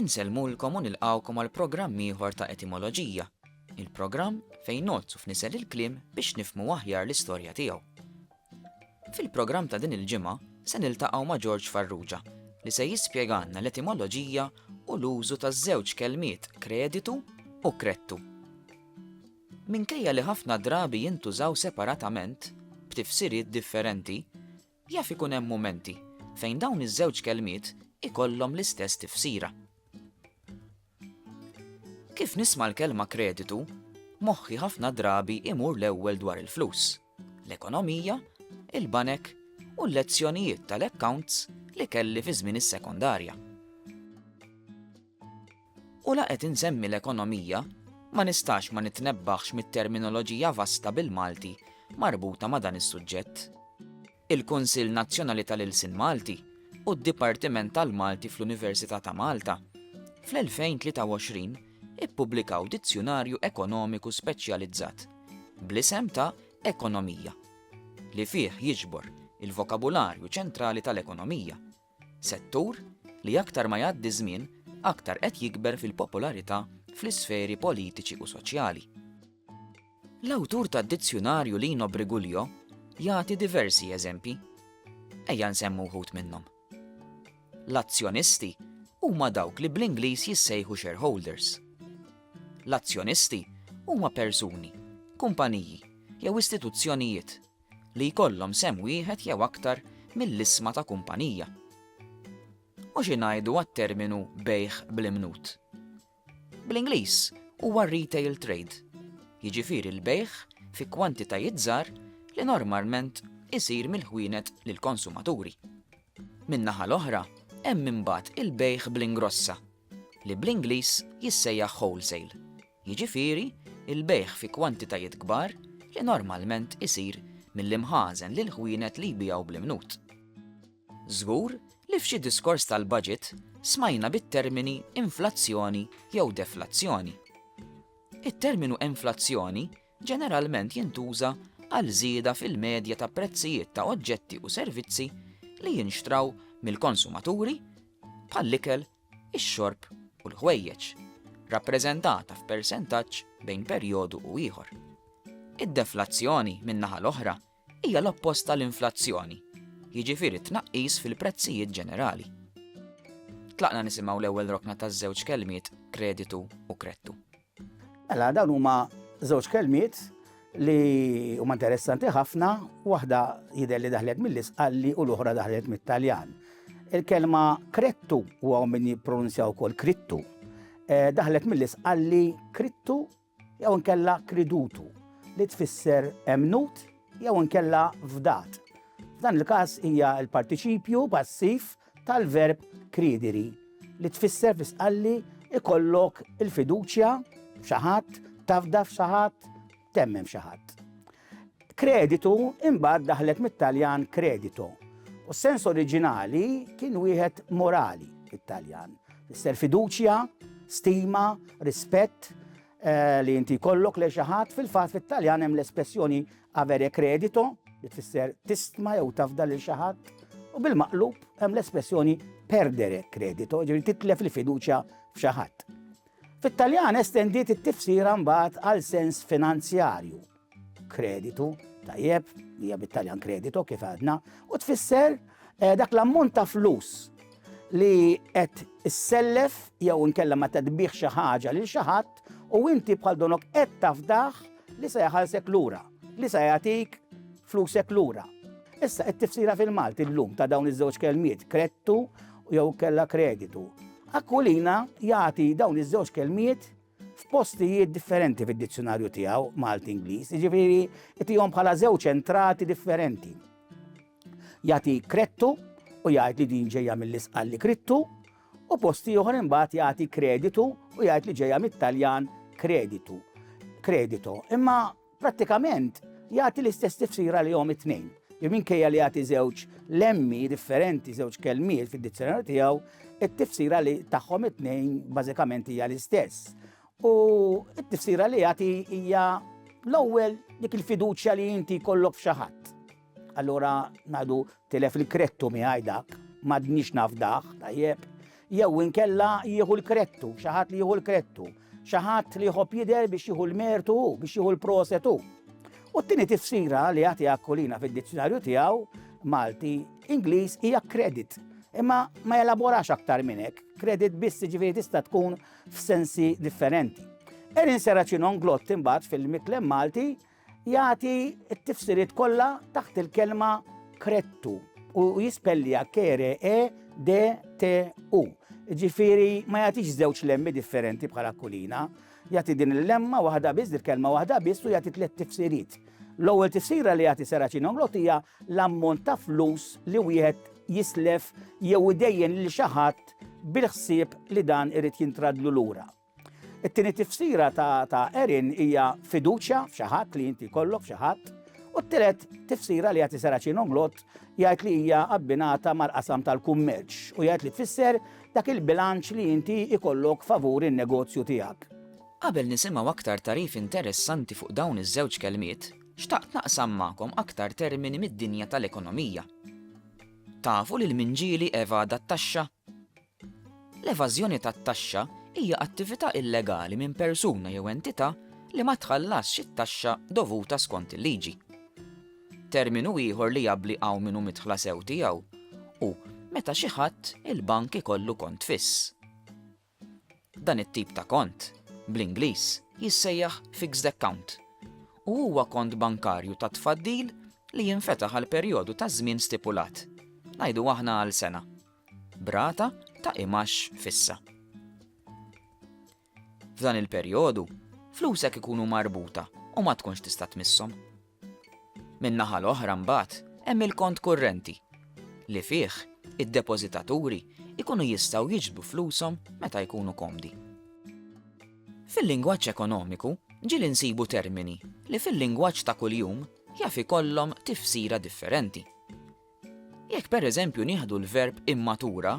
Insellmulkom u nilqgħukom għal programm ieħor ta' Etimoloġija, il-programm fejn ngħoddsu f'nisel il-kliem biex nifhmu aħjar l-istorja tiegħu. Fil-programm ta' din il-ġimgħa se niltaqgħu ma' George Farrugia li se jispjegalna l-etimoloġija u l-użu taż-żewġ kelmiet kreditu u krettu. Minkejja li ħafna drabi jintużaw separatament, b'tifsiriet differenti, Jaf ikun hemm mumenti fejn dawn iż-żewġ kelmiet ikollhom l-istess tifsira. Kif nisma' l-kelma kreditu, moħħi ħafna drabi imur l-ewwel dwar il-flus, l-ekonomija, il-banek u l-lezzjonijiet tal-accounts li kelli fi żmien is-sekondarja. U la qed insemmi l-ekonomija, ma nistax ma nitnebbaħx mit-terminoloġija vasta bil-Malti marbuta ma' dan is-suġġett. Il-Kunsill Nazzjonali tal-Ilsien Malti u d-Dipartiment tal-Malti fl-Università ta' Malta fl-2023 ippubblikaw dizzjunarju ekonomiku speċjalizzat bl-isem ta' Ekonomija, li fih jiġbor il-vokabularju ċentrali tal-ekonomija, Settur li aktar ma jgħaddi ż-żmien aktar qed jikber fil-popolarità fl-isferi politiċi u soċjali. L-awtur tad-dizzjunarju Lino Briguglio jagħti diversi eżempji. Ejja nsemmu wħud minnhom. L-azzjonisti huma dawk li bl-Ingliż jissejħu shareholders. L-azzjonisti huma persuni, kumpaniji jew istituzzjonijiet li jkollhom sehem wieħed jew aktar mill-isma ta' kumpanija. U xi ngħidu għat-terminu bejgħ bl-imnut? Bl-Ingliż huwa retail trade, jiġifieri l-bejgħ fi kwantitajiet żgħar li normalment isir mill-ħwienet lill-konsumaturi. Min-naħa l-oħra, hemm imbagħad il-bejgħ bl-ingrossa, li bl-Ingliż jissejjaħ wholesale, jiġifieri l-bejgħ fi kwantitajiet kbar li normalment isir mill-imħażen lill-ħwienet li jbigħu bl-imnut. Żgur li f'xi diskors tal-Budget smajna bit-termini inflazzjoni jew deflazzjoni. It-terminu inflazzjoni ġeneralment jintuża għal żieda fil-medja ta' prezzijiet ta' oġġetti u servizzi li jinxtraw mill-konsumaturi, bħall-ikel, ix-xorb u l-ħwejjeġ, rappreżentata f'persentaġġ bejn perjodu u ieħor. Id-deflazzjoni, min-naħa l-oħra, hija l-oppost tal-inflazzjoni, jiġifieri tnaqqis fil-prezzijiet ġenerali. Tlaqna nisimgħu l-ewwel rokna taż-żewġ kelmiet kreditu u krettu. Mela dawn huma żewġ kelmiet li huma interessanti ħafna, waħda jidher li daħlet mill-isqalli u l-oħra daħlet mit-Taljan. Il-kelma krettu huwa min jippronunzjaw ukoll krittu. Eh, daħlet mill-isqalli krittu jew inkella kridutu, li tfisser emmnut jew inkella fdat. F'dan il-każ hija l-partiċipju passiv tal-verb kridiri, li tfisser fi stqalli ikollok il-fiduċja f'xi ħadd, tafda f'xi ħadd, temmen f'xi ħadd. Kreditu imbagħad daħlet mit-Taljan kredito, u s-sens oriġinali kien wieħed morali fit-Taljan. Isser fiduċja, stima, rispett eh, li inti kollok lejn xi ħadd, fil-fatt fit-Taljan hemm l-espressjoni avere credito, li tfisser tistma jew tafda lil xi ħadd, u bil-maqlub hemm l-espressjoni perdere credito, ġifieri titlef il-fiduċja f'xi ħadd. Fit-Taljan estendiet it-tifsira mbagħad għal sens finanzjarju. Kreditu, tajjeb, li hija bit-Taljan kredito kif għadna, u tfisser eh, dak l-ammont ta' flus li qed issellef jew inkella ma tadbih xi ħaġa lil xi ħadd u inti bħal donok qed tafdaħ Li se jħallsek lura, li se jagħtik flusek lura. Issa qed tifsira fil-Malti llum ta' dawn iż-żewġ kelmiet, krettu jew kella kreditu. Aquilina jagħti dawn iż-żewġ kelmiet f'postijiet differenti fid-dizzjonarju tiegħu Malti Ingliż, jiġifieri tihom bħala żewġ entrati differenti. Jagħti krettu u jgħid li din ġejja mill-isqalli krittu u post ieħor imbagħad jagħti kreditu u jgħid li ġejja mit-Taljan kreditu, kredito. Imma prattikament jagħti l-istess tifsira li jom it-tnejn. Minkejja li jagħti żewġ lemmi differenti, żewġ kelmiet fid-dizzjonarju tiegħu, it-tifsira li tagħhom it-tnejn bażikament hija l-istess. U t-tifsira li jagħti hija l-ewwel dik il-fiduċja li inti kollok f'xi ħadd. Allura ngħidu tilef il-krettu miegħi dak, m'għadniex nafdah, tajjeb. Jew inkella jieħu l-krettu, xi ħadd li jieħu l-krettu, xi ħadd li jħobb jidher biex jieħu l-mertu, biex jieħu l-prosetu. U t-tieni tifsira li jagħti akkolina fid-dizzjonarju tiegħu Malti Ingliż hija kredit. Imma ma jelaborax aktar minn hekk, kredit biss ġifieri tista' tkun f'sensi differenti. Erin Seracino nglott imbagħad fil-miklem Malti Jagħti t-tifsiriet kollha taħt il-kelma krettu u jispellija kere e d t u. Ġifieri ma jagħtix żewġ lemmi differenti bħala kulina, jagħti din il-lemma waħda biss, il-kelma waħda biss u jagħti tliet tifsiriet. L-ewwel tifsira li jagħti Seraċin Omlot hija l-ammont ta' flus li wieħed jislef jew idejjen lil xi ħadd bil-ħsieb li dan irid jintradlu lura. It-tieni tifsira ta' Erin hija fiduċja f'xi ħadd li inti jkollok f'xi ħadd. U t-tielet tifsira li jagħti Seraċin Omlot jgħid li hija abbinata mal-qasam tal-kummerċ u jgħid li tfisser dak il-bilanċ li inti jkollok favur in-negozju tiegħek. Qabel nisimgħu aktar tagħrif interessanti fuq dawn iż-żewġ kelmiet, xtaqt naqsam magħkom aktar termini mid-dinja tal-ekonomija. Tafu lil minġieli evada t-taxxa? L-evażjoni tat-taxxa hija attività illegali minn persuna jew entità li ma tħallasx it-taxxa dovuta skont il-liġi. Terminu ieħor li jabbli hawn min hu midħla sew tiegħu hu meta xi ħadd il-bank ikollu kont fiss. Dan it-tip ta' kont, bl-Ingliż, jissejjaħ fixed account u huwa kont bankarju ta' tfaddil li jinfetaħ għal perjodu ta' żmien stipulat, ngħidu aħna għal sena. b'rata ta' imax fissa. F'dan il-perjodu, flusek ikunu marbuta u ma tkunx tista' tmisshom. Min-naħa l-oħra mbagħad hemm il-kont kurrenti li fih id-depożitaturi ikunu jistgħu jiġbdu flushom meta jkunu komdi. Fil-lingwaġġ ekonomiku ġieli nsibu termini li fil-lingwaġġ ta' kuljum jaf ikollhom tifsira differenti. Jekk pereżempju nieħdu l-verb immatura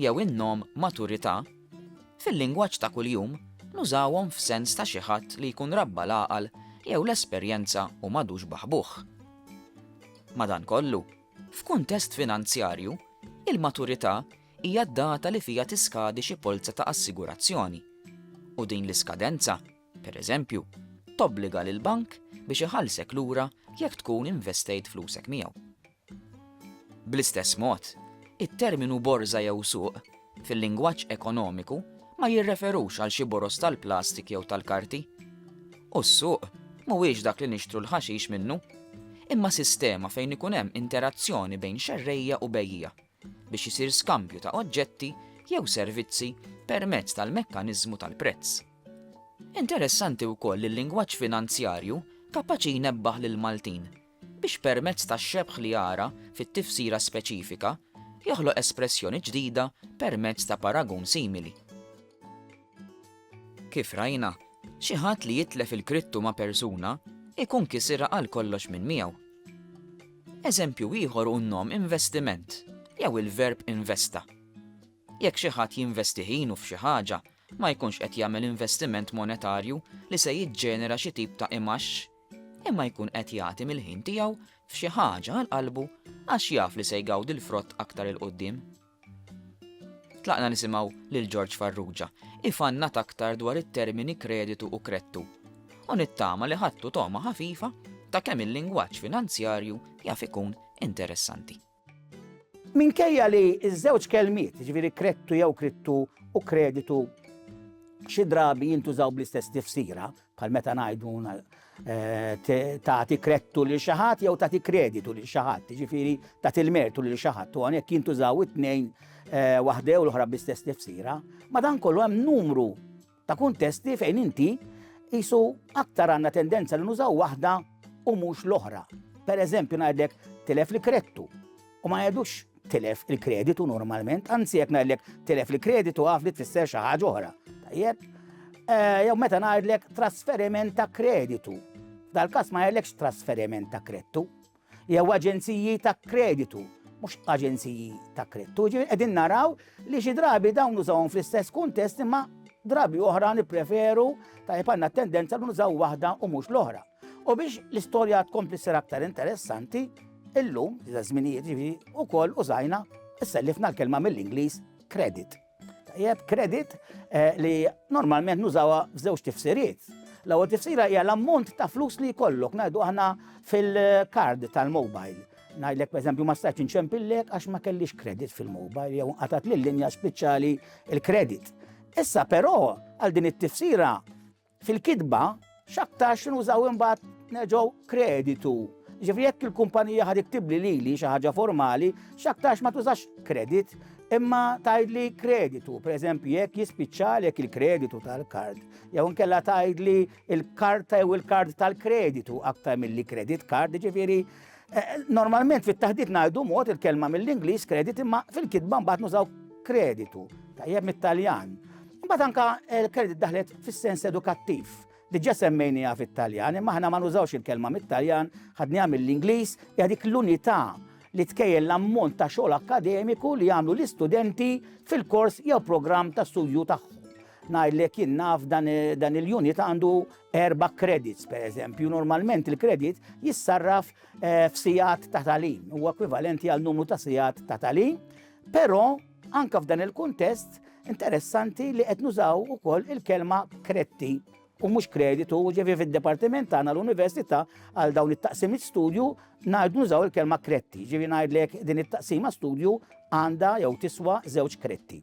jew in-nom maturità, fil-lingwaġġ ta' kuljum nużawhom f'sens ta' xi ħadd li jkun rabba l-għaqal jew l-esperjenza u m'għadux baħbuh. Madankollu, f'kuntest finanzjarju, il-maturità hija d-data li fiha tiskadi xi polza ta' assigurazzjoni, u din l-iskadenza Pereżempju, tobbliga lill-bank biex iħallsek lura jekk tkun investejt flusek miegħu. Bl-istess mod, it-terminu borża jew suq, fil-lingwaġġ ekonomiku, ma jirreferux għal xi boroż tal-plastik jew tal-karti. U s-suq mhuwiex dak li nixtru l-ħaxix minnu, imma sistema fejn ikun hemm interazzjoni bejn xerrejja u bejjiegħa. biex isir skambju ta' oġġetti jew servizzi permezz tal-mekkaniżmu tal-prezz. Interessanti wkoll li l-lingwaġġ finanzjarju kapaċi jnebbaħ lill-Maltin biex permezz tax-xebħ li jara fit-tifsira speċifika joħloq espressjoni ġdida permezz ta' paragun simili. Kif rajna, xi ħadd li jitlef il-krittu ma' persuna jkun kisirha għalkollox minn miegħu. Eżempju ieħor hu n-nom investiment jew il-verb investa. Jekk xi ħadd jinvesti ħinu f'xi ħaġa, ma jkunx qed jagħmel investiment monetarju li se jiġġenera xi tip ta' imgħax, imma jkun qed jagħti mill-ħin tiegħu f'xi ħaġa għal qalbu għax jaf li se jgawdi l-frott aktar 'il quddiem. Tlaqna nisimgħu lil George Farrugia ifannat aktar dwar it-termini kreditu u kredtu u nittama li ħadtu togħma ħafifa ta' kemm il-lingwaġġ finanzjarju jaf ikun interessanti. Minkejja li ż-żewġ kelmiet, jiġifieri kredtu jew kridtu u kreditu, xi drabi jintużaw bl-istess tifsira, bħal meta ngħidu tagħti krettu lil xi ħadd jew tagħti kreditu lil xi ħadd, jiġifieri tagħti l-mertu lil xi ħadd u għalhekk jintużaw it-tnejn eh, waħdew l-oħra bl-istess tifsira. Madankollu hemm numru ta' kuntesti fejn inti jisu aktar għandna tendenza li nużaw waħda u mhux l-oħra. Per eżempju ngħidlek tilef li krettu. U ma jgħidux tilef il-kreditu normalment, anzi jekk ngħidlek tilef il-kreditu għaf li tfisser xi ħaġa oħra. Tajjeb? Eh, jew meta ngħidlek trasferiment ta' kreditu. Dal-każ ma jgħidlekx trasferiment ta' kreditu. Jew aġenziji ta' kreditu mhux aġenziji ta' krittu. Ġifieri qegħdin naraw li xi drabi dawn użawhom fl-istess kuntest imma drabi oħra nippreferu ta' għandna tendenza li nużaw waħda u mhux l-oħra. U biex l-istorja tkompli ssir aktar interessanti, illum, iżda żminijiet ġifi, ukoll użajna sellifna l-kelma mill-Ingliż credit. Tajjeb, credit eh, li normalment nużawha f'żewġ tifsiriet. L-ewwel tifsira hija l-ammont ta' flus li jkollok ngħidu aħna fil-kard tal-mobile. Ngħidlek pereżempju ma stajtx inċempillek għax ma kellix kredit fil-mobile jew qatat lil linja speċjali il-kredit. Issa però għal din it-tifsira Fil-kitba, x'aktarx nużaw imbagħad neġgħu kreditu. Ġifri jekk il-kumpanija ħad iktibli lili xi ħaġa formali, x'aktarx ma tużax kredit, imma tgħidli kreditu, pereżempju jekk jispiċċalek il-kreditu tal-kard, jew nkella tgħidli il-karta jew il-kard tal-kreditu aktar milli kredit kard, ġifieri Eh, normalment fit-taħdit ngħidu mod il-kelma mill-Ingliż kredit imma fil-kitba mbagħad nużaw kreditu, tajjeb mit-Taljan. Mbagħad anka eh, l-kredit daħlet fis-sens edukattiv. Diġà semmejniha fit-Taljan, imma aħna ma nużawx il-kelma mit-Taljan, ħadniha mill-Ingliż, hija dik l-unità li tkejjel l-ammont ta' xogħol akademiku li jagħmlu l-istudenti fil-kors jew programm ta' studju tagħhom. Ngħidlek jien naf dan eh, il-unit għandu Erba' credits, per eżempju, normalment il-credit jissarraf eh, f'sijat ta' talim, u ekwivalenti għal numru ta' sijat ta' talim, però anka f'dan il-kuntest interessanti li qed nużaw ukoll il-kelma kretti u mhux kreditu, ġevi fid-departiment tagħna l-università għal dawn it-taqsimiet studju ngħidu nużaw il-kelma kretti, ġevi ngħidlek din it-taqsima studju għandha jew tiswa żewġ kretti.